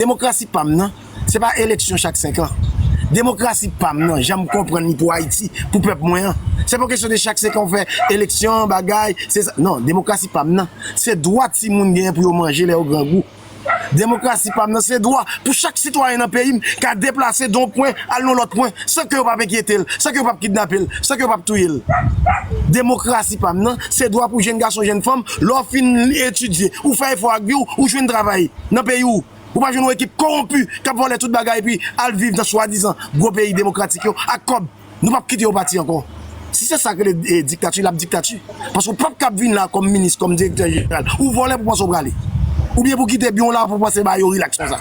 Demokrasi pa m nan, se pa eleksyon chak 5 an. Demokrasi pa m nan, jan m konprann li pou Ayiti, pou pèp mwen an, se pa yon kesyon de chak 5 an ou fè eleksyon, bagay, se sa. Non, demokrasi pa m nan, se dwa timoun genyen pou yo manje lè yo grangou. Demokrasi pa m nan, se dwa pou chak sitwayen nan peyi m ka deplase de yon pwen al nan yon lòt pwen san ke yo pa p enkyete l, san ke yo pa p kidnape l, san ke yo pa p touye l. Demokrasi pa m nan, se dwa pou jenn gason, jenn fanm, lè w fin etidye, ou fè efò ak vi w, ou jwenn travay. nan peyi w, ou pa jwenn yon ekip kowonpi k ap vòlè tout bagay epi al viv nan swadizan gwo peyi demokratik yo ak kòb. Nou p ap kite yo pati ankò. Si se sa k rele diktati, l ap diktati. Paske ou p ap kab vin la kòm minis, kòm direktè jeneral, ou vòlè pou w panse w prale. Oubyen pou w kite byen w la pou w panse bagay yo rilaks konsa.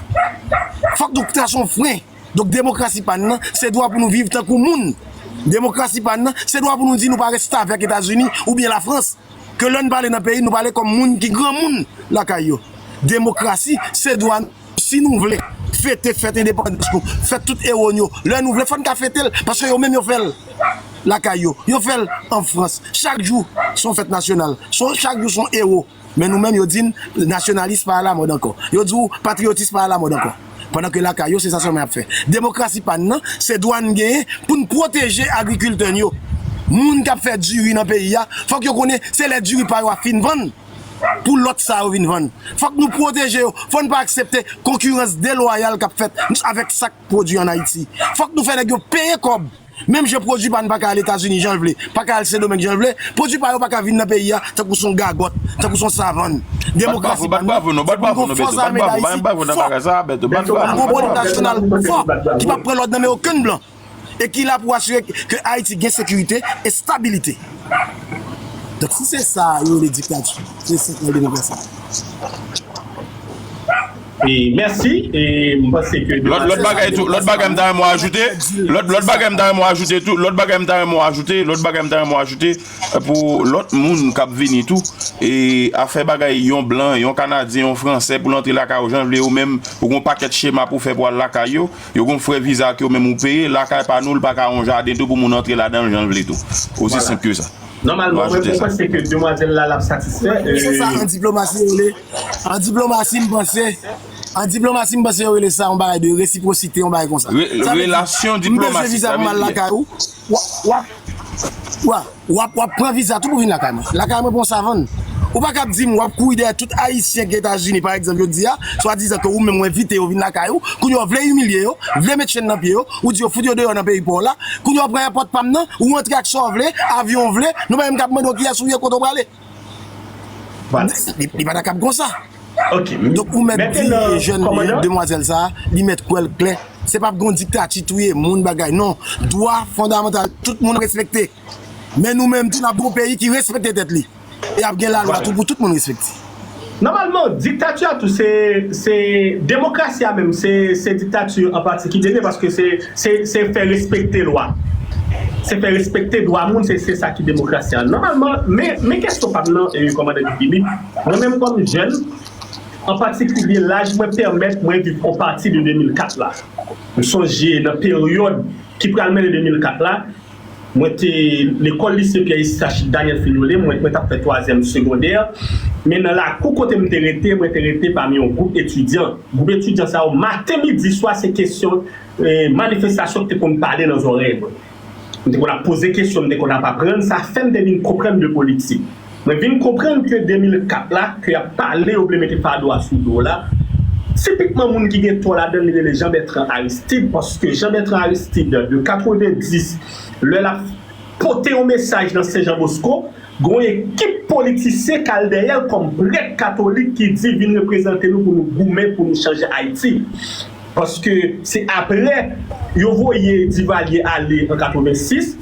Fòk nou trase yon fren. Donk demokrasi pa n nan, se dwa pou nou viv tankou moun. Demokrasi pa n nan, se dwa pou nou di nou pa restavèk Etazini oubyen Lafrans. ke lè n pale nan peyi nou pale kòm moun ki granmoun lakay yo. Demokrasi se dwa nou. Si nou vle fete fèt endepandans nou, fèt tout ewo n yo, lè nou vle fò n ka fete l paske yo menm yo fè l lakay yo, yo fè l an Frans. Chak jou son fèt nasyonal, chak jou son ewo. Men nou menm yo di n nasyonalis pa alamòd ankò. Yo di w patriyotis pa alamòd ankò. pandan ke lakay yo se sa sèlman yap fè. Demokrasi pa n nan, se dwa n genyen pou n pwoteje agrikiltè n yo. Moun kap fè diri nan peyi a, fòk yo konnen se lè diri pa yo a fin vann, pou lòt sa yo vin vann. Fòk nou pwoteje yo, fò n pa aksepte konkirans delwayal kap fèt avèk sak pwodui an Ayiti. Fòk nou fè nèg yo peye kòb. Menm jan pwodui pa n pa ka al Etazini jan l vle, pa ka al Sendomeng jan l vle, pwodui pa yo pa ka vin nan peyi a tankou s on gagòt, tankou s on savann. Demokrasi pa n nan, se pou n gen yon fò zame Dayiti fò, yon gwo polis nasyonal fò ki p ap pran lòd nan men okenn blan e ki la pou asire ke Ayiti gen sekirite, estabilite. Donk, si se sa yo rele diktati, se sa k rele demokrasi. Lòt bagay tou, lòt bagay m ta renmen w ajoute, lòt bagay m ta renmen w ajoute tou, lòt bagay m ta renmen w ajoute, lòt bagay m ta renmen w ajoute pou lòt moun k ap vini tou, e afè bagay yon blan, yon kanadyen, yon fransè pou l antre lakay ou jan l vle yo menm ou gon pakèt chema pou w fè pou al lakay yo, yo gon frè viza ke yo menm ou peye, lakay pa nou l pa ka yon jaden tou pou moun antre ladan l jan l vle tou. Osi senp ke sa. Nou ajoute sa. An diplomasi m panse, an diplomasi m panse yo rele sa yon bagay de resiprosite yon bagay konsa. Sa vle di, m bezwen viza pou m al lakay ou, wap wap pran viza tou pou vin lakay mwen. Lakay mwen pa yon savann. Ou pa kab di m wap kouri dèyè tout ayisyen ki etazini pa egzanp yo di a, swadizan ke ou menm ou envite yo vin lakay ou, kounye a w vle imilye yo, vle met chenn nan pye yo, ou di yo fout yo deyò nan peyi pa w la, kounye a w pran èpòt pa m nan, ou rantre ak sa w vle, avyon w vle, nou pa menm kab mande w kiyès ou ye kote w prale. Li pa ta kab konsa. Donk ou mèt di jèn demwazèl sa a, li mèt kwè l klè, se pa pou gen yon diktati touye moun bagay non. Dwa fondamantal tout moun respekte. Men nou menm tou n ap gen yon peyi ki respekte tèt li e ap gen lalwa tou pou tout moun respekte. Nòmalman, diktati a tou se, se, demokrasi a menm se, se diktati an pati ki dènye paske se, se, se fè respekte lwa, se fè respekte dwa moun se, se sa ki demokrasi a nòmalman. Men, men kesyon pa m nan, Kòmandan Guy Philippe, mwen menm kòm jèn, an patikilye laj mwen pèmèt mwen viv on pati de 2004 la. M sonje nan peryòd ki pral mennen 2004 la, Mwen te lekòl lise Pyè Estachid Daniel Filole, mwen t ap fè twazyèm segondè, men nan lakou kote m te rete, mwen te rete pami yon gwoup etidyan. Gwoup etidyan sa yo maten, midi, swa se kesyon manifestasyon ki te konn pale nan zòrèy mwen. M te konn ap poze kesyon, m te konn ap aprann, sa fè m te vin konprann de politik. Mwen vin konprann ke 2004 la ke yap pale yo vle mete fado a sou do la, tipikman moun ki gen tò ladann li rele Jean Bertrand Aristide paske Jean Bertrand Aristide de 90 lè lap pote yon mesaj nan Sen Jan Bosko gon ekip politisyen kal dèyèl kòm prèt katolik ki di vin reprezante nou pou nou goumen pou nou chanje Ayiti paske se aprè yo voye Divalye ale an 86.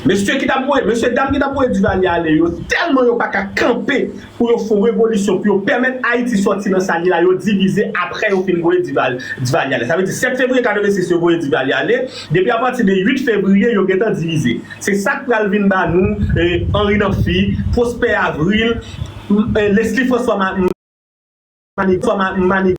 Mesye ki tap voye, mesye dam ki tap voye Duvalier ale yo tèlman yo paka kanpe pou yo fon revolisyon pou yo pèmèt Ayiti sòti nan sa li la yo divize aprè yo fin voye Duvalier ale. Sa vle di 7 fevriye 86 yo voye Duvalier ale, depi apati de 8 fevriye yo gentan divize. Se sak pral vin ba nou Henri Namphy, Prosper Avril, Leslie François Manigat,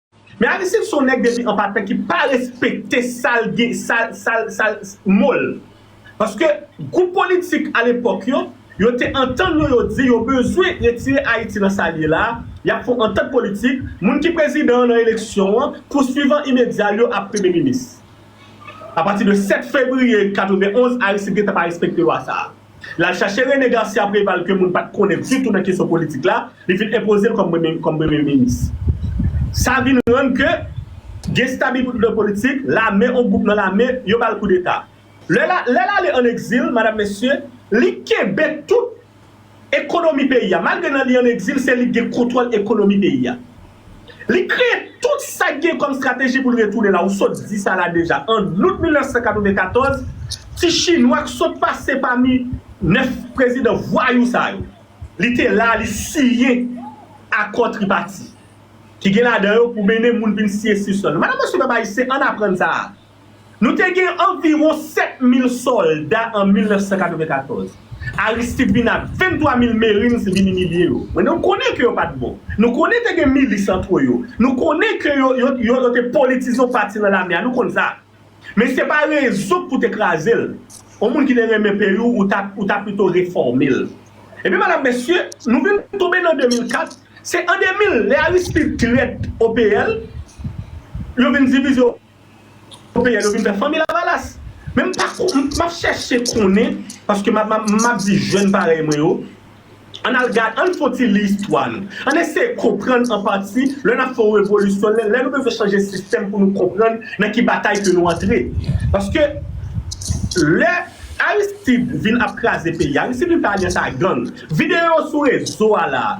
Men Aristide son nèg depi an patan ki pa respekte sal gen sal sal sal mol paske gwoup politik alepòk yo yo te antann yo yo di yo bezwen retire Ayiti nan sal ye la yap fon antant politik moun ki prezidan nan eleksyon an pou swivan imedyal yo ap premye minis apati de 7 fevriye 91 Aristide gentan pa respekte lwa sa. L al chache Rene Garcia Preval ke moun pat konnen ditou nan kesyon politik la, li vin enpoze l kòm premye minis. Sa vin rann ke gen stabiblite politik, lame, on gwoup nan lame, yo ba l koudeta. Lè l ale an egzil, madam mesye, li kenbe tout ekonomi peyi a. Malgre nan li an egzil, se li ki gen kontwòl ekonomi peyi a. Li kreye tout sa k gen kòm strateji pou l retounen la. Ou sot di sa la deja. An out 1994, ti chinwa k sot pase pami 9 prezidan vwayou sa yo, li te la a, li siyen akò tripati ki gen ladan yo pou mennen moun vin siye sispann. Madan mesye pèp ayisyen, ann aprann sa a. Nou te gen anviwon 7 mil sòlda an 1994. Aristide vin ak 23 mil Marines vin imilye yo. Mwen nou konnen ke yo pa t bon. Nou konnen te gen milis antre yo. Nou konnen ke yo yo te politize yon pati nan lame a. Nou konn sa. Men se pa rezon pou te kraze l. Yon moun ki te renmen peyi w, ou ta ou ta pito refòme l. Ebyen madam mesye, nou vin tonbe nan 2004. Se an 2000, lè Aristide trèt OPL, yo vin divize. Popeyèl yo vin fè fanmi lavalas. Men m pa kon, m ap chèche konnen, paske m ap, m ap di jèn parèy mwen yo, ann al gad, ann fon ti li istwa nou. Ann eseye konprann an pati, lè n ap fè yon revolisyon, lè nou bezwen chanje sistèm pou nou konprann nan ki batay ke nou antre. Paske, lè Aristide vin ap kraze peyi a, Aristide vin fè alyans a gang. Videyo yo sou rezo a la a.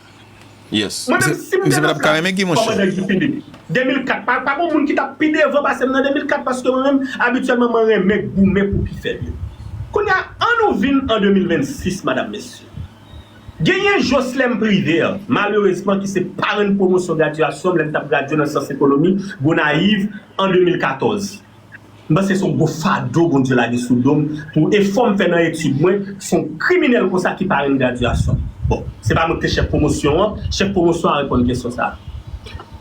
Mwen menm sim te nan plas kòmandan Guy Philippe 2004 pa pa gon moun ki tap pi devan pasem nan 2004 paske mwen menm abityèlman mwen renmen goumen pou pi fèb yo kounya an nou vin an 2026 madam mesye genyen Joslèm Privert malerezman ki se parenn pwomosyon graduasyonm lèm tap gradye nan syans ekonomi Gonayiv an 2014. M panse son gwo fado Bondye lage sou dom pou efòm fè nan etid mwen son kriminèl konsa ki pa renmn gradyasyon bon se pa mwen ki te chèf pwomosyon an chèf pwomosyon a reponn kesyon sa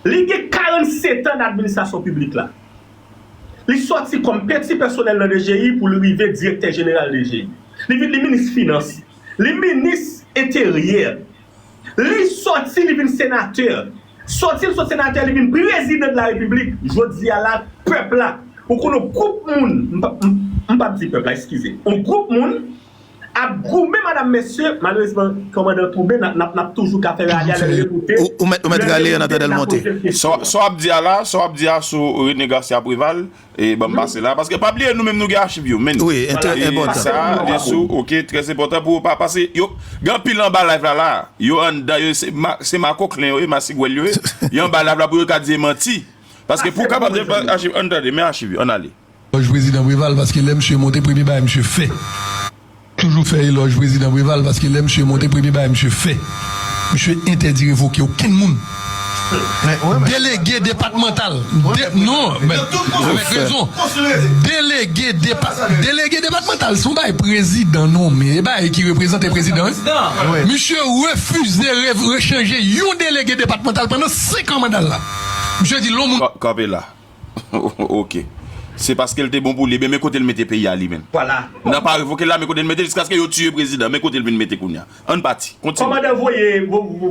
li gen 47 an nan administrasyon piblik la li sòti kòm peti pèsonèl nan dgi pou li rive direktè jeneral dgi li vin li minis finans li minis enteryè Li sòti li vin senatè. Sòti l sot senatè li vin prezidan de la repiblik. Jodi a la pèp la ou konn on gwoup moun m pap di pèp la eskize on gwoup moun ap goumen madam mesye malerezman kòmandan tounen n ap toujou ka fè rale a lè l revoute lè l revoute n ap pote l kesyon. Sa w ap di a la sa w ap di a sou Rene Garcia Preval E banm pase la paske pa bliye nou menm nou gen achiv yo menn. Wi enteres enpòtan. Sa li sou ok tres enpòtan pou ou pa pase yo gen anpil anba live la la yo anndan yo se se makoklen yo ye masigwèl yo ye yo anba live la pou yo ka di e manti paske pou kapab de bank achiv ann tande men achiv yo ann ale. Lòj prezidan Preval paske lè misye monte premye bagay misye fè. Toujou fè elòj prezidan Preval paske lè misye monte premye bagay misye fè misye entèdi revoke okenn moun delege depatmantal non avèk rezon delege delege depatmantal se yon bagay prezidan nonmen e bagay ki reprezante prezidan wi misye refize rechanje yon delege depatmantal pandan 5 an mandal la misye di lon moun. Kanpe la. Ok. Se paske l te bon pou li. Ebyen men kote l mete peyi a li menm. Vwala. Nan pa revoke l la men kote l mete l jiskaske yo tiye prezidan. Men kote l vin mete kounye a. An n pati. Kontinye. Kòmandan voye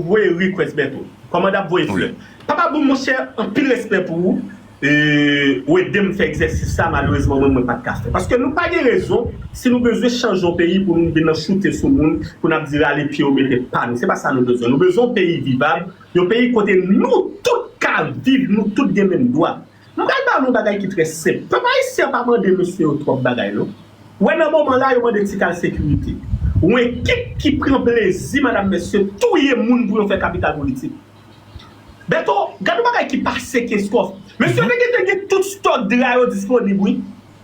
voye request Bertho. Kòmandan ap voye flè. Papa boom monchè anpil respè pou ou ou ede m fè egzèsis sa malerezman mwen mwen pat ka fè. Paske nou pa gen rezon si nou bezwen chanje yon peyi pou nou vin nan choute sou moun pou n ap di rale pye yo mete pa nou. Se pa sa nou bezwen. Nou bezwen yon peyi vivab. Yon peyi kote nou tout ka viv, nou tout gen menm dwa. M pral ba nou yon bagay ki trè senp. Pèp ayisyen an pa mande mesye yo twòp bagay non. Ou wè nan moman la yo mande ti kal sekirite. Yon ekip ki pran plezi madam mesye touye moun pou yo fè kapital politik. Bèto, gad yon bagay ki pase Kenskòf. Mesye yo te gen te gen tout stòk dra yo disponib wi.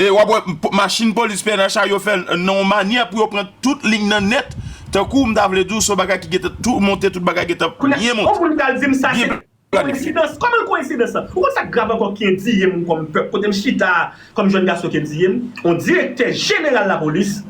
E wap wè machin polis pnh a yo fè nan yon manyè pou yo pran tout liy nan nèt tankou m ta vle di w se yon bagay ki gentan tou monte tout bagay gentan byen monte. Kounye a yon moun pral di m sa se koensidans kòman l koensidans lan? Ou konn sa k grav ankò ki endiye m kòm pèp kote m chita a kòm jèn gason ki endiye m yon direktè jeneral lapolis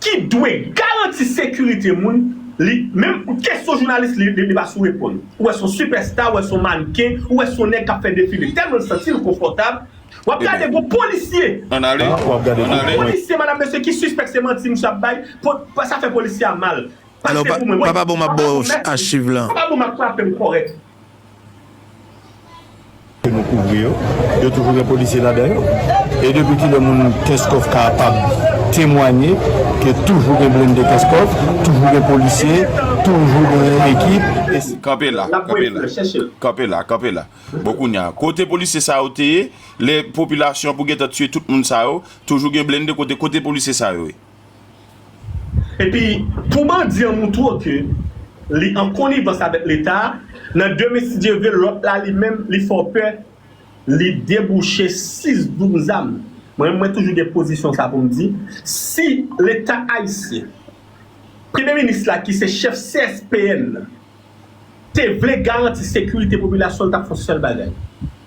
ki dwe garanti sekirite moun li menm kesyon jounalis li li pa sou reponn ou wè se yon sipèsta ou wè se yon mannken ou wè se yon nèg k ap fè defile tèlman l santi l konfòtab Wap gade gwo polisye. An ale. Gwo polisye madam mesye ki sispèk se manti misye ap bay pou sa fè polisye a mal. Pase pou mwen mwen. Papa bon map ba w achiv lan. Papa bon map frape l kòrèk. Ke nou kouvri yo, yo toujou gen polisye ladan yo e depi kilè moun kenscoff ka pab temwanye ke toujou gen blende kenscoff, toujou gen polisye, toujou gen ekip e se. Kanpe la, kanpe la, kanpe la, kanpe la. Bon kounya kote polisye sa yo te ye lè popilasyon pou gentan tiye tout moun sa yo toujou gen blende kote kote polisye sa yo ye. Epi pou bandi an moutro ke li an konivans avèk leta nan demen si Dye vle lòt la li menm li fè w pè li debouche 6 doum zam mwen menm mwen toujou gen pozisyon sa pou m di si leta ayisyen premye minis la ki se chèf CSPN nan te vle garanti sekirite popilasyon l t ap fè yon sèl bagay,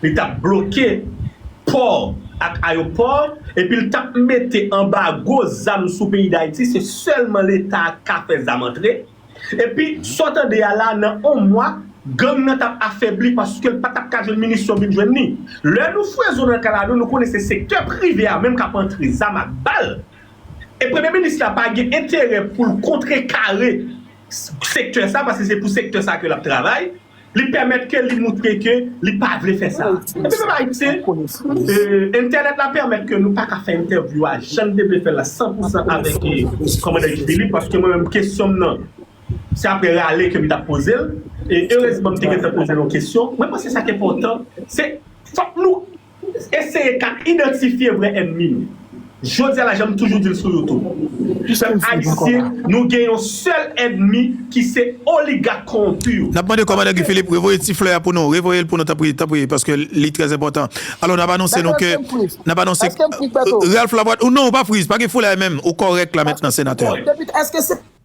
li t ap bloke pò ak ayopò epi l t ap mete anbago zam sou peyi Dayiti se sèlman leta k ka fè zam antre epi sa w tande a la nan yon mwa gang nan t ap afebli paske l pa t ap ka jwenn minisyon vin jwenn ni lè nou fwe zo nan kalalou nou konnen se sektè prive a menm k ap antre zam ak bal e premye minis la pa gen enterè pou l kontrekare sektè sa paske se pou sektè sa ke lap travay li pèmèt ke li moutre ke li pa vle fè sa epi pèp ayisyen entènèt la pèmèt ke nou paka fè entèvyou a jan nou te vle fèl la san pou san avèk kòmandan Guy Philippe paske mwen menm kesyon m nan se aprè rale ke m tap poze l e erezman m te gentan poze l yon kesyon mwen panse sa k enpòtan se fòk nou Eseye ka idantifye vrè ènmi nou. Jodi a la janm toujou di l sou youtube. Pèp ayisyen nou gen yon sèl ènmi ki se oligak kowonpi yo. N ap mande Kòmandan Guy Philippe revoye ti flè a pou nou. Revoye l pou nou tanpri, tanpri, paske li trè enpòtan. Alò n ap anonse nou ke, n ap anonse Ralph Lavoie, non ou pa friz, pa gen foulay menm, ou kòrèk la mentnan Senatè.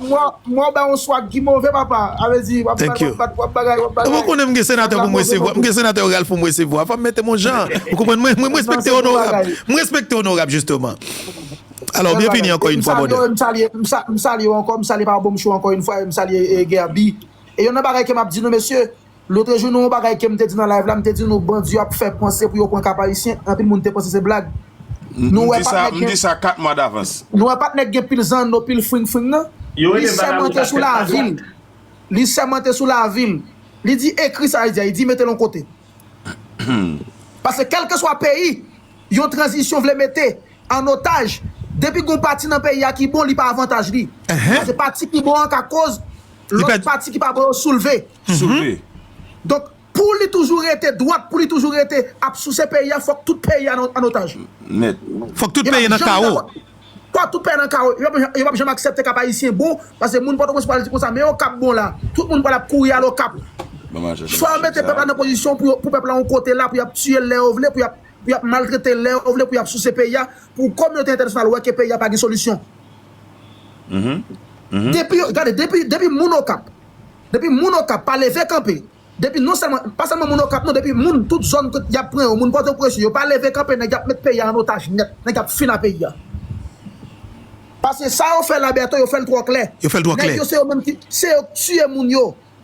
Mwen w bay yon swag ki move papa avle di wap bagay wap bagay. Ou konnen m gen senatè pou m resevwa m gen senatè oral pou m resevwa fò m mete m yon jan ou konprann mwen respekte onorab m respekte onorab jisteman alò byenvini ankò yn fwa brother. M salye yo m salye yo ankò m salye papa Bonm show ankò yn fwa e m salye Guerby e yon nan bagay ke map di nou mesye Lotre jou nan yon bagay kem te di nan live la mte di nou bandi yo ap fè panse pou yo pran Cap-Haïtien anpil moun te panse se blag nou wè pat nèg gen nou wè pat nèg gen pil zanno pil fring fring nan li sèmante sou lavil li sèmante sou lavil li di ekri sa li di a li di metel yon kote paske kelkeswa peyi yon tranzisyon vle mete an otaj depi gon pati nan peyi a ki bon li pa avantaj li paske pati ki bon an ka koz Lòt pati ki pa bon yo soulve. Donk, pou li toujou rete dwat, pou li toujou rete ap souse peyi a, fòk tout peyi a an otaj. Nèt. Fòk tout peyi nan kawo. Fòk tout peyi a nan kawo. Yo pap janm aksepte Kap Ayisyen bon, paske moun Pòtoprens pral di konsa, men yo Kap bon la. Tout moun pral ap kouri al Okap. Fò yo mete pèp la nan pozisyon pou pèp la yon kote la, pou y ap tiye l lè yo vle, pou y ap maltrete l lè yo vle, pou y ap souse peyi a, pou kominote entènasyonal wè ke peyi a pa gen solisyon. Depi yo, gade depi depi moun Okap, depi moun Okap pa leve kanpe, depi non sèlman, pa sèlman moun Okap non depi moun tout zòn kot yap pran yo, moun Pòtoprens yo pa leve kanpe nèg yap met peyi a an otaj nèt, nèg ap fin a peyi a. Paske sa yo fè la Bertho yo fèl twò klè. Yo fèl twò klè. Nèg yo se yo menm ki, se yo k tiye moun yo.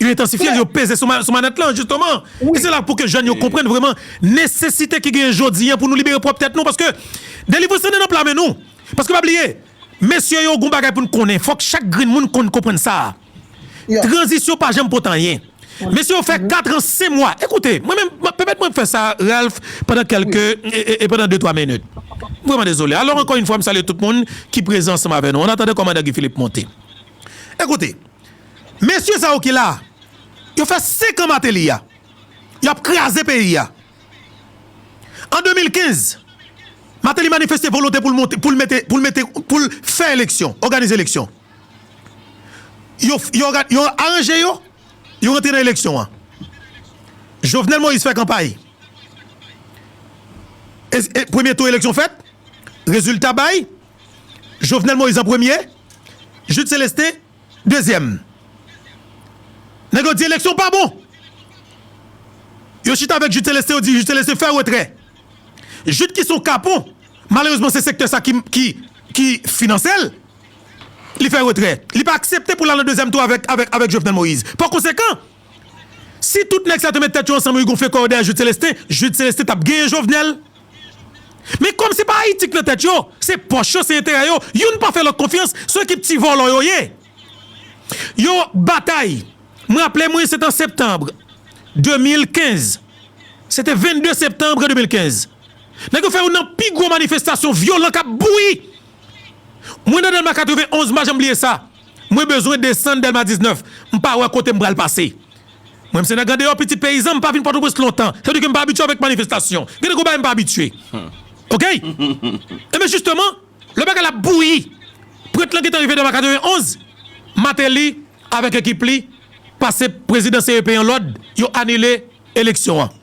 Yo entansifye l, yo peze sou manèt lan, jisteman. E se la pou ke jèn yo konprann vreman nesesite ki genyen jodi an pou nou libere pwòp tèt nou, paske delivrans lan nan pla men nou. Paske pa bliye, mesye yo, gon bagay pou n konnen, fòk chak grenn moun konn konprann sa a, tranzisyon pa janm pot anyen. Mesye yo fè katran sen mwa, ekoute, mwen menm, pèmèt mwen fè sa, Ralph, pandan kèlke, e pandan de twa minit. M vreman dezole. Alò ankò yon fwa m salye tout moun ki prezan ansanm avè nou. An atandan kòmandan Guy Philippe monte. Ekoute. Mesye sa yo ki la a, yo fè 5 an Mateli a, yo ap kraze peyi a. An 2015, Mateli manifeste volonte pou l monte, pou l mete, pou l mete, pou l fè eleksyon, òganize eleksyon. Yo, yo òga, yo aranje yo, yo rantre nan eleksyon an. Jovenel Moïse fè kanpay. E, e premye tou eleksyon fèt, rezilta bay. Jovenel Moïse an premye, Jude Celestin dezyèm. Nèg yo di eleksyon pa bon. Yo chita avèk Jude Celestin yo di Jude Celestin fè retrè. Jude ki son kapon, malerezman se sektè sa ki finanse l, li fè retrè. Li pa aksepte pou l al nan dezyèm tou avèk Jovenel Moïse. Pa konsekan, si tout nèg sa te met tèt yo ansanm yo gonfle kò yo dèyè Jude Celestin, Jude Celestin t ap genyen Jovenel. Men kòm se pa Ayiti k nan tèt yo, se pòch yo, se enterè yo, youn pa fè lòt konfyans, s on ekip ti vòlò yo ye. Yo batay. M raple mwen se t an septanbre 2015, se te 22 septanbre 2015, nèg yo fè youn nan pi gwo manifestasyon vyolan k ap bouyi. Mwen nan Dèlma 91, m pa janm bliye sa. Mwen bezwen desann Dèlma 19, m pa wè kote m pral pase. Mwen m se nèg andeyò pitit peyizan m pa vin pòtoprens lontan sa vle di ke m pa abitye avèk manifestasyon gen de gwo bagay m pa abitye ok enben jisteman lè bagay la ap bouyi prèt lan gentan rive devan 91 mateli avèk ekip li pase prezidan CEP an lòd yo anile eleksyon an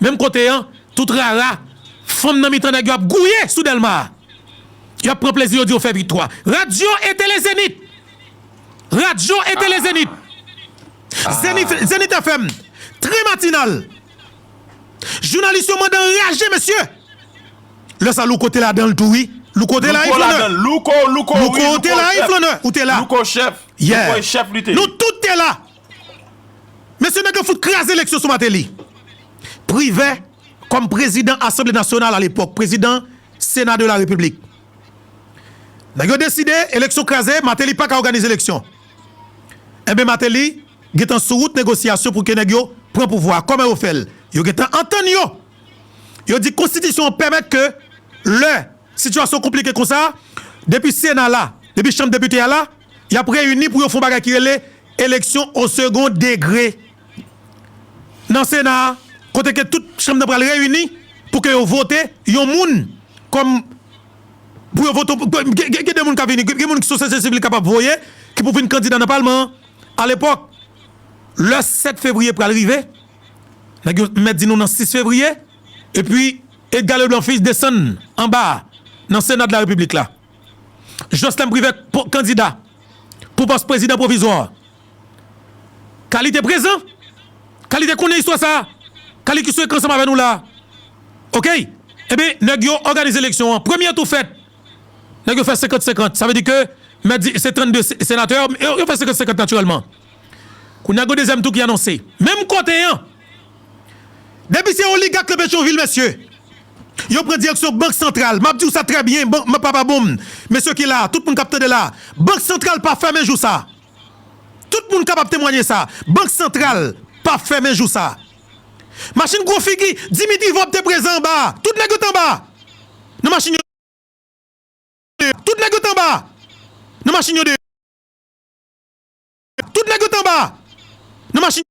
menm kote an tout rara fanm nan mitan nèg yo ap gouye sou dèlma a yo ap pran plezi yo di yo fè viktwa radyo e tele zenit radyo e tele zenit. Zenith FM Très matinal Jounalis yo mande anraje mesye Lè sa Louko te ladanl tou wi Louko te la wi flannè Louko te la wi flannè Ou te la Yeah Nou tout te la Mesye nèg yo fout kraze eleksyon sou Mateli Privè kòm prezidan asanble nasyonal a lepòk prezidan sena de la repiblik Nèg yo deside eleksyon kraze Mateli paka òganize eleksyon Enben Mateli gentan sou wout negosyasyon pou ke nèg yo pran pouvwa a. Kòman yo fè l? Yo gentan antann yo. Yo di konstitisyon an pèmèt ke lè sitiyasyon konplike konsa, depi sena la, depi chanm depite a la, y ap reyini pou yo fon bagay ki rele eleksyon o segond degre nan sena a, kote ke tout chanm nan pral reyini pou ke yo vote yon moun kòm. pou yo vote gen de moun ka vini gen moun ki sou sosye sivil kapab voye ki pou vin kandida nan palman an alepòk lè 7 fevriye pral rive nèg yo mèt di nou nan 6 fevriye epi Edga Leblan fils desann anba a nan sena de la repiblik la Joslèm Privè kandida pou pòs prezidan pwovizwa. Kali te prezan, Kali te konnen istwa sa, Kali ki sou ekran ansanm avè nou la. Okey, enben nèg yo òganize eleksyon an, premye tou fèt, nèg yo fè senkant senkant, sa vle di ke mèt di se 32 senatè, yo fè senkant senkant natirèlman. Kounye a gen yon dezyèm tou ki anonse, menm kote an, depi se oligak nan Petyonvil mesye, yo pran direksyon bank santral, m ap di w sa trè byen, bank papa bonm, mesye ki la, tout moun k ap tande la, bank santral pa fèmen jou sa. Tout moun kapab temwanye sa, Bank Santral p ap fèmen jou sa. Machin gwo figi Dimitri Vorbe te prezan anba a, tout nèg yo t anba a nan machin yo deyò, tout nèg yo t anba a nan machin yo deyò, tout nèg yo t anba a nan machin yo.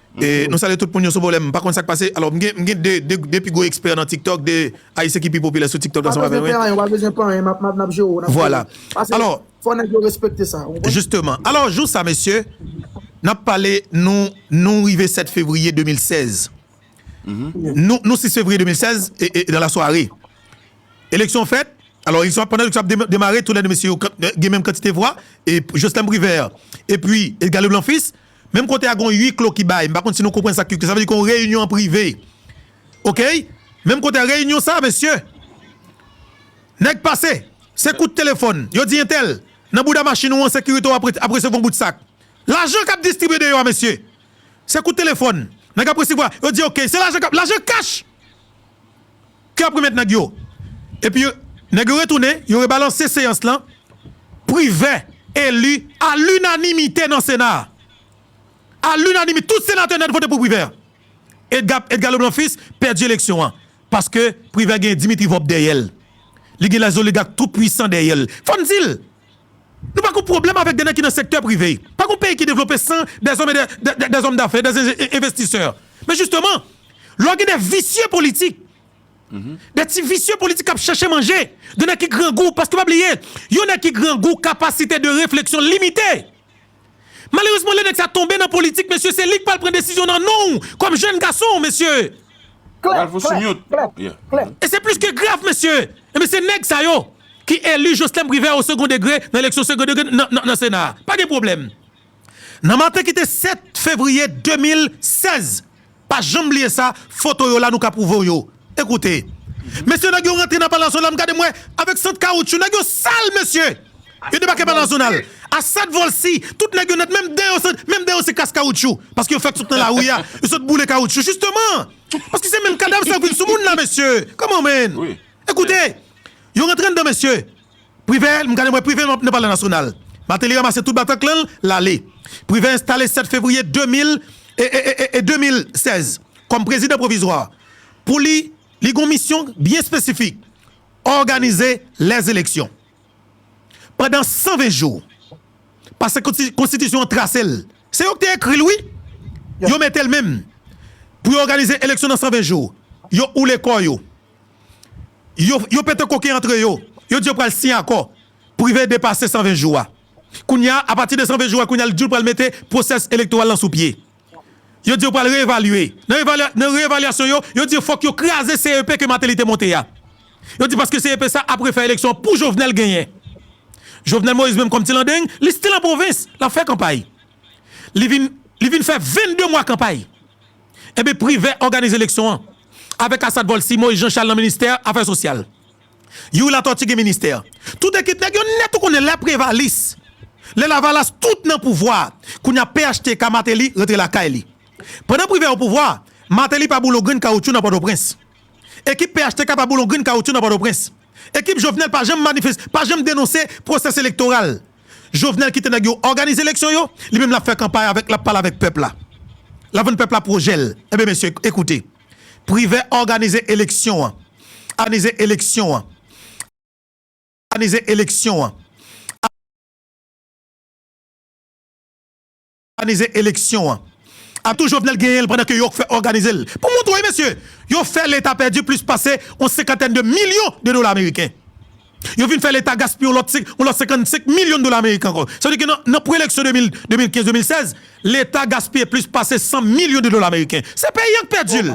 Nou salye tout moun yo sou volèm pa konn sak pase alò m gen 2 pi gwo ekspè nan tiktok 2 ayisyen ki pi popilè sou tiktok ansanm avè mwen vwala alò jisteman alò jou sa mesye nap pale nou nou rive 7 fevriye 2016 nou 6 fevriye 2016 e nan la sware eleksyon fèt alò eleksyon ap pandan eleksyon ap demare tou lè 2 mesye yo gen menm kantite vwa e joslèm privè e pi edgalou blanfis Menm kote a gon uiklo ki bay, m pa konn si nou konprann sa uiklo sa vle di kon reyinyon an prive ok menm kote a reyinyon sa mesye nèg pase se kout telefòn yo di entèl nan bouda machin ou an sekirite w ap resevwa yon bout sak lajan k ap distribye deyò a mesye se kout telefòn nèg ap resevwa yo di ok se lajan k ap lajan kach. Ke ap remèt nèg yo. Epi nèg yo retounen, yo rebalanse seyans lan, Privè eli a linanimite nan Sena a. A linanimite, tout senatè nèt vote pou Privè. Edga, Edga Leblanc Fils pèdi eleksyon an paske Privè gen Dimitri Vorbe dèyè l. Li gen lèzoligak tou pwisan dèyè l. Fò n di l! Nou pa gon pwoblèm avèk de nèg ki nan sektè prive. Pa gon peyi ki devlope san dè zòm e dè zòm dafè, dè envestisè. Men jisteman, lò gen de visye politik, de ti visye politik k ap chèche manje, de nèg ki grangou, paske pa bliye, yon nèg ki grangou kapasite de refleksyon l limite. Malerezman lè nèg sa tonbe nan politik mesye se li k pral pran desizyon nan non w kòm jèn gason mesye. Ralph sou mute. E se plis ke grav mesye. Ebyen se nèg sa yo ki eli Joslèm Privè o second degre nan eleksyon second degre nan sena a. Pa gen pwoblèm. Nan maten ki te 7 fevriye 2016 Pa janm bliye sa, foto yo la nou ka prouve w yo. Ekoute. Mesye nèg yo rantre nan Palazona m gade m wè avèk sant kawoutchou nèg yo sal mesye! Yo debake Palazonal Assad Volcy tout nèg yo nèt menm den yo se menm den yo se kas kawoutchou paske yo fèk sot nan lari a yo sot boule kawoutchou jisteman paske se menm kadav sa yo ki vin sou moun la mesye! Come on man! Ekoute! Yo rantre anndan mesye! Privè, m gade m wè Privè nan palè nasyonal. Mateli ramase tout bataklan l, l ale. Privè enstale 7 fevriye 2016 kòm prezidan pwovizwa. Pou li, li gen yon misyon byen espesifik, òganize lèzeleksyon. Pandan 120 jou, pase konstitisyon an trase l. Se yo ki te ekri l wi. Yo mete l menm pou yo òganize eleksyon nan 120 jou. Yo oule kò yo. Yo pete koken antre yo. Yo di yo pral siyen akò prive depase 120 jou a. Kounye a, apati de 120 jou a, kounye a li di l pral mete pwosès elektoral lan sou pye. Yo di yo pral reevalye. Nan reevalyasyon yo, yo di fòk yo kraze CEP ke Martelly te monte a. Yo di paske CEP sa ap refè eleksyon an pou Jovenel genyen. Jovenel Moïse menm kòm ti landeng, li stil an pwovens, l ap fè kanpay. Li vin fè 22 mwa kanpay. Enben Privè òganize eleksyon an avèk Asad Volcy, Moïse Jean Charles nan ministè afè sosyal. Youri Latortue gen ministè. Tout ekip nèg yo nèt ou konnen lè Prevalis, lè Lavalas tout nan pouvwa a. Kounye a phtk Martelly rantre lakay li. Pandan Privè o pouvwa, Martelly pa boule yon grenn kawoutchou nan Pòtoprens. Ekip phtk pa boule yon grenn kawoutchou nan Pòtoprens. Ekip Jovenel pa janm manifes, pa janm denonse pwosès elektoral. Jovenel kite nèg yo òganize eleksyon yo, li menm lap fè kanpay avèk lap pale avèk pèp la. Lap vann pèp la pwojèl. Enben mesye ekoute. Privè òganize eleksyon an. Òganize eleksyon an. Òganize eleksyon an. Òganize eleksyon an. Atout Jovenel genyen l pandan ke yo k fè òganize l pou moun tou wi mesye. Yo fè leta pèdi plis pase yon senkantèn de milyon de dola ameriken. Yo vin fè leta gaspiye yon lòt 55 milyon dola ameriken ankò. Sa vle di ke nan pre-eleksyon 2015-2016, leta gaspiye plis pase 100 milyon de dola ameriken. Se peyi an k pèdi l.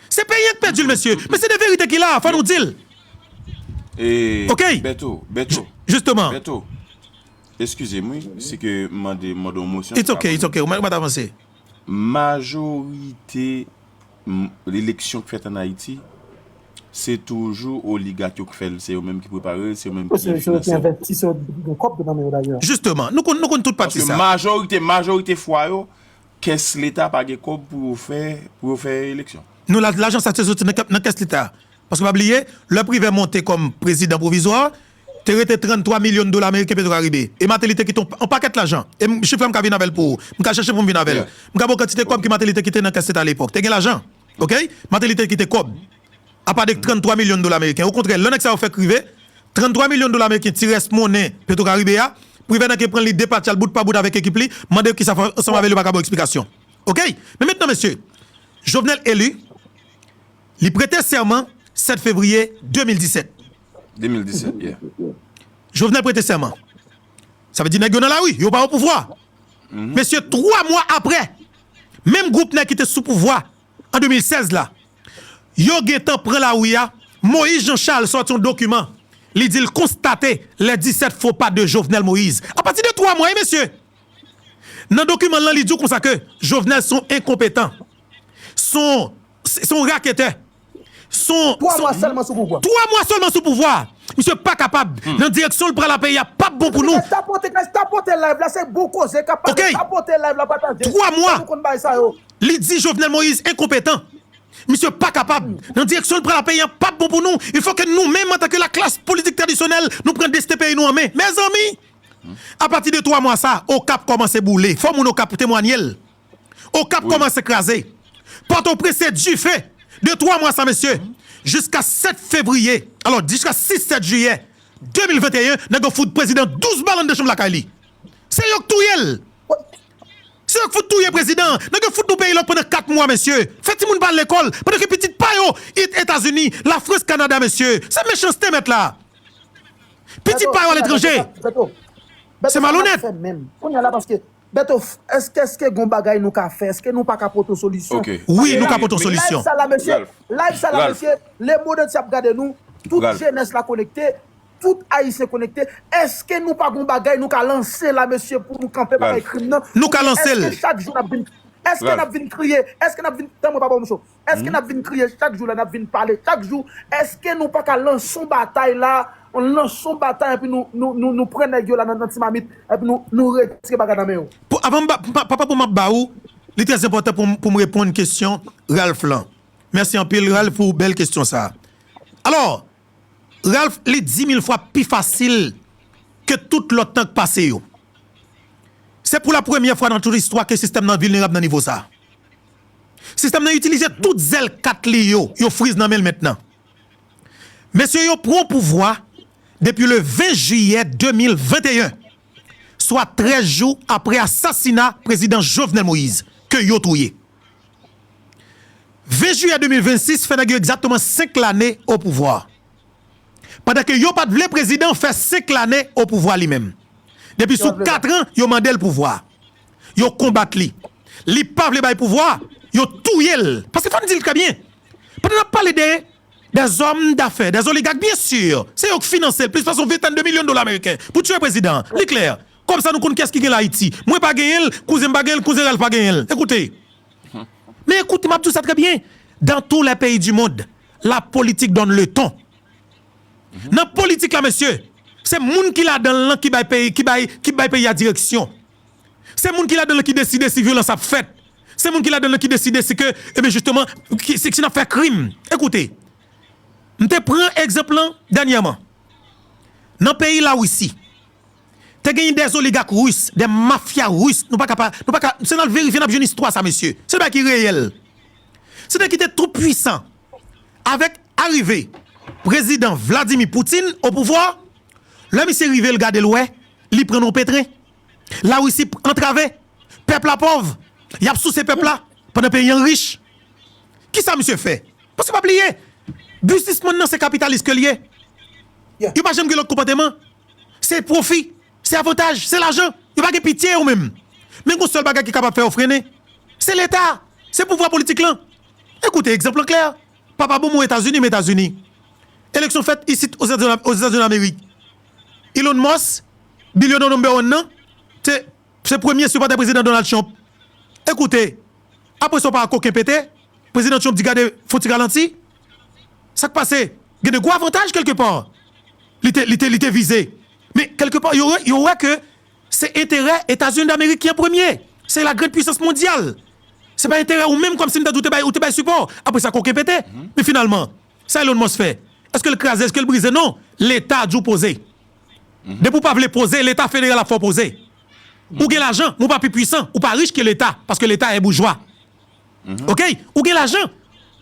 Se peyi an k pèdi l mesye. Men se de verite ki la a, fò nou di l. Ok! Jisteman. Eskize m wi si ke m mande mande yon mosyon It's ok, it's ok, ou mèt avanse. Majorite eleksyon k fèt an Ayiti, se toujou oligat yo k fè l, se yo menm ki prepare l, se yo menm ki byen finanse l. Justement, nou konn nou konn tout pati sa. Paske majorite majorite fwa yo, kès leta pa gen kòb pou yo fè pou yo fè eleksyon. Non lajan sa se soti nan kès leta. Paske pa bliye, lè Privè monte kòm prezidan pwovizwa, Te rete 33 milyon dola meriken Petrocaribe. E Mateli te kite yon pakèt lajan. E m, chif la m ka vin avè l pou ou. M ka chèche pou m vin avè l. M ka ba w kantite kòb ke Mateli te kite nan kès leta alepòk. Te gen lajan. Ok? Mateli te kite kòb. Apa de 33 milyon dola meriken. Okontrè, lè nèg sa yo fèk rive, 33 milyon dola meriken ti rès monnen Petrocaribe a, Privert ke pran li depatcha l bout pa bout avèk ekip li, mande yo kisa fè yo ansanm avè l yo pa ka ba w eksplikasyon. Ok? Men mentnan mesye, Jovenel eli, li prete sèman 7 fevriye 2017. 2017 yeah. Jovenel prete sèman. Sa vle di nèg yo nan lari, yo pa opouvwa. Mesye 3 mwa aprè, menm gwoup nèg ki te sou pouvwa an 2016 la, yo gentan pran lari a, Moïse Jean Charles sòti yon dokiman, li di l konstate les 17 faux pas de Jovenel Moïse. A pati de 3 mwa wi mesye! Nan dokiman l lan li di w konsa ke Jovenel son enkonpetan, son raketè. 3 mwa selman sou pouvwa. 3 mwa selman sou pouvwa. Misye pa kapab. Nan direksyon l pral la peyi a pap bon pou nou. Guys tapote guys tapote live la se bon koze kap pale tapote live la pataje. 3 mwa li di Jovenel Moïse enkonpetan. Misye pa kapab. Nan direksyon l pral la peyi a pap bon pou nou. Il fo ke nou menm antanke la klas politik tradisyonèl nou pran desten peyi nou an men. Mezanmi! Apati de 3 mwa sa okap komanse boule. Fo moun okap temwanye l. Okap kòmanse kraze. Pòtoprens se dife! De twa mwa sa mesye, jiska 7 fevriye, alò jiska 6, 7 jiyè 2021, nèg yo fout prezidan 12 bal anndan chanm lakay li. Se yo k touye l! Se yo k fout touye prezidan an! Nèg yo fout nou peyi lòk pandan 4 mwa mesye! Fè timoun pa al lekòl, pandan ke pitit pa yo it Etazini, Lafrans, Kanada mesye! Se mechanste mèt la! Pitit pa yo aletranje! Se malonèt! Beto, èske èske gon bagay nou ka fè, èske nou pa ka pote yon solisyon? Wi nou ka pote yon solisyon. Live sa la mesye, live sa la mesye, le monde entier ap gade nou, tout jenès la konekte, tout ayisyen konekte, èske nou pa gon bagay nou ka lanse la mesye pou nou kanpe bagay krim nan? Oubyen èske chak jou nap vin, èske nap vin kriye, èske nap vin, tan mwen pa baw mouche w, Eske nap vin kriye chak jou la nap vin pale chak jou eske nou paka lans on batay la lans on batay epi nou pran nèg yo la nan ti mamit epi nou retire bagay nan men yo. Papa pou map ba ou li trè enpòtan poum reponn kesyon Ralph lan mèsi anpil Ralph pou bèl kesyon sa alò Ralph li dimil fwa pi fasil ke tout lòt tan k pase yo se pou la premyè fwa nan tout istwa ke sistèm nan vilnerab nan nivo sa Sistèm nan itilize tout zèl kat li yo, yo friz nan men l mentnan. Mesye yo pran pouvwa depi le 20 jiyè 2021, swa 13 jou apre asasina prezidan Jovenel Moïse ke yo touye. 20 jiyè 2026 fè nèg yo egzakteman 5 lane o pouvwa. Pandan ke yo pat vle prezidan fè 5 lane o pouvwa li menm. Depi sou 4 an yo mande l pouvwa. yo konbat li li pa vle bay pouvwa yo touyel paske fòm dil trè byen pandan nap pale de dèzòm dafè dè zoligak byen si se yo k finansel plis pase yon ventèn de milyon dola meriken pou tiye prezidan an li klè kòb sa nou konn kiyès ki genl ayiti mwen pa genyenl kouzenm pa genyenl kouzen ralph pa genyenl ekoute men ekoute map diw sa trè byen dan tou lè peyi di mond la politik donn leton Nan politik la mesye, se moun ki ladan l lan ki bay peyi ki bay peyi a direksyon. Se moun ki ladan l lan ki deside si vyolans ap fèt. Se moun ki ladan l lan ki deside si ke ebyen jisteman si n ap fè krim. Ekoute, m te pran egzanp lan dènyèman. Nan peyi Lawisi, te genyen dè zoligak ris, dè mafya ris, nou pa ka pa, nou pa ka, se n al verifye n ap jwenn istwa sa mesye. Se bagay ki reyèl. Se nèg ki te tou pwisan. Avèk arive prezidan Vladimir Putin o pouvwa, lè misye rive l gade l wè li pran nan petren. Larisi antrave, pèp la pòv, y ap souse pèp la pandan peyi an rich. Kisa misye fè? Paske pa bliye, biznismann nan se kapitalis ke l ye. Yo pa janm gen lòt konpòteman. Se pwofi, se avantaj, se lajan. Yo pa gen pitye yo menm. Men gen yon sèl bagay ki kapab fè yo frennen. Se Leta, se pouvwa politik lan. Ekoute egzanp lan klè, papa bonbon an Etazini m Etazini. Eleksyon fèt isit Ozetazinilamerik. Elon Musk, bilyonè number one nan, te se premye sipòtè Prezidan Donald Trump. Ekoute, apre sa w pa wè koken pete, Prezidan Trump di gade fon ti ralanti. Sa k pase? Gen de gwo avantaj kèlkepar li te vize. Men kèlkepar yo wè ke. Se enterè Etazini Damerik ki an premye. Se la grand puisans mondyal. Se pa enterè ou menm kòmsi m ta di ou te bay sipò. Apre sa koken pete. Men finalman, sa Elon Musk fè? Eske l kraze? Eske l brize? Non. Leta di w poze. Depi w pa vle poze, leta federal ap fè w poze. Ou gen lajan, men w pa pi puisan, ou pa rich ke leta, paske leta e boujwa. Ok ou gen lajan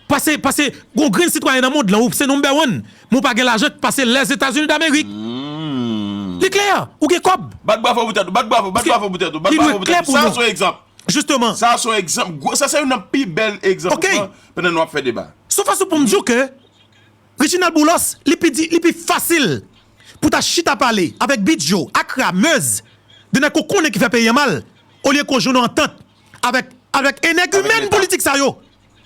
pase pase gon grenn sitwayen nan mond lan ou se number one men ou pa gen lajan k pase Lèzetazini Damerik li klè ou gen kòb Bat bravo pou tèt ou bat bravo bat bravo pou tèt ou bat bravo pou tèt ou sa son egzanp jisteman sa son egzanp gwo sa se youn nan pi bèl egzanp ou pran pandan nou ap fè deba son fason pou m di w ke Reginald Boulos li pi di li pi fasil pou ta chita pale avèk Bidjo Akra Meuse de nèg ke w konnen ki fè peyi an mal olye ke w jwenn yon antant Avèk avèk enègimèn politik sa yo.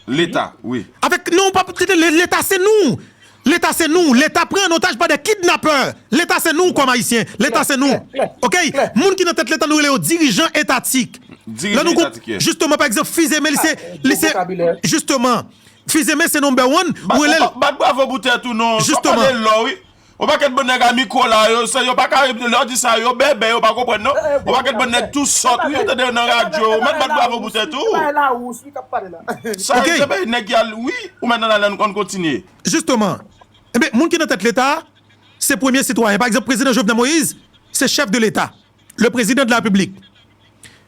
Leta wi. Avèk non pa tete leta se nou leta se nou leta pran an otaj pa de kidnapè leta se nou kòm ayisyen leta se nou ok moun ki nan tèt leta nou rele yo dirijan etatik lè nou gon jisteman pa egzanp fizeme li se li se jisteman fizeme se number one ou rele l bat bravo pou tèt ou non jisteman On pakèt bon nèg a mikwo la yo se yo pa ka lè yo di sa yo bèbè yo pa konprann non on pakèt bon nèg tou sòt wi ou tande yo nan radyo ou mèt bat bravo pou tèt ou sa yo se peyi nèg ki al wi ou mèt nan ale an kontinye. Jisteman enben moun ki nan tèt leta a se premye sitwayen pa egzanp prezidan Jovenel Moïse se chèf de leta le prezidan de la repiblik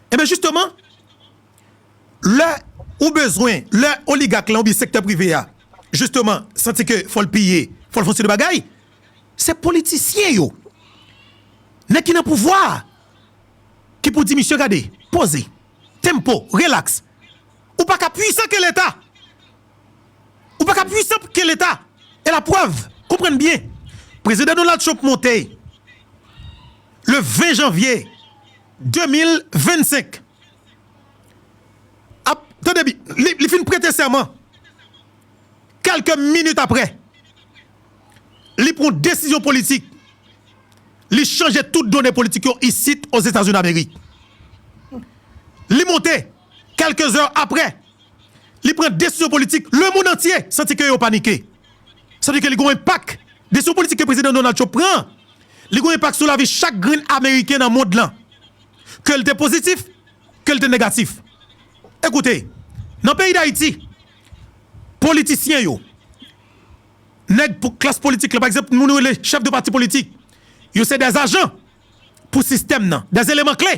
enben jisteman. Lè ou bezwen, lè oligak lan oubyen sektè prive a jisteman santi ke fò l piye, fò l fon seri de bagay, se politisyen yo, nèg ki nan pouvwa a ki pou di misye gade, poze, tempo, relax, ou pa ka pwisan ke leta, ou pa ka pwisan ke leta, e la prèv, konprann byen, Prezidan Donald Trump monte le 20 janvye 2025. ap tande bi li fin prete sèman kèlke minit aprè li pran desizyon politik li chanje tout done politik yo isit Ozetazini Damerik li monte kèlke zè aprè li pran desizyon politik lemonn antye santi ke yo panike sa vle di ke li gen yon enpak desizyon politik ke prezidan Donald Trump pran li gen yon enpak sou lavi chak grenn ameriken nan mond lan. ke l te pozitif, ke l te negatif. Ekoute, nan peyi Dayiti, politisyen yo, nèg klas politik la, pa egzanp, moun yo rele chèf de pati politik, yo se dè ajan pou sistèm nan, dè eleman kle.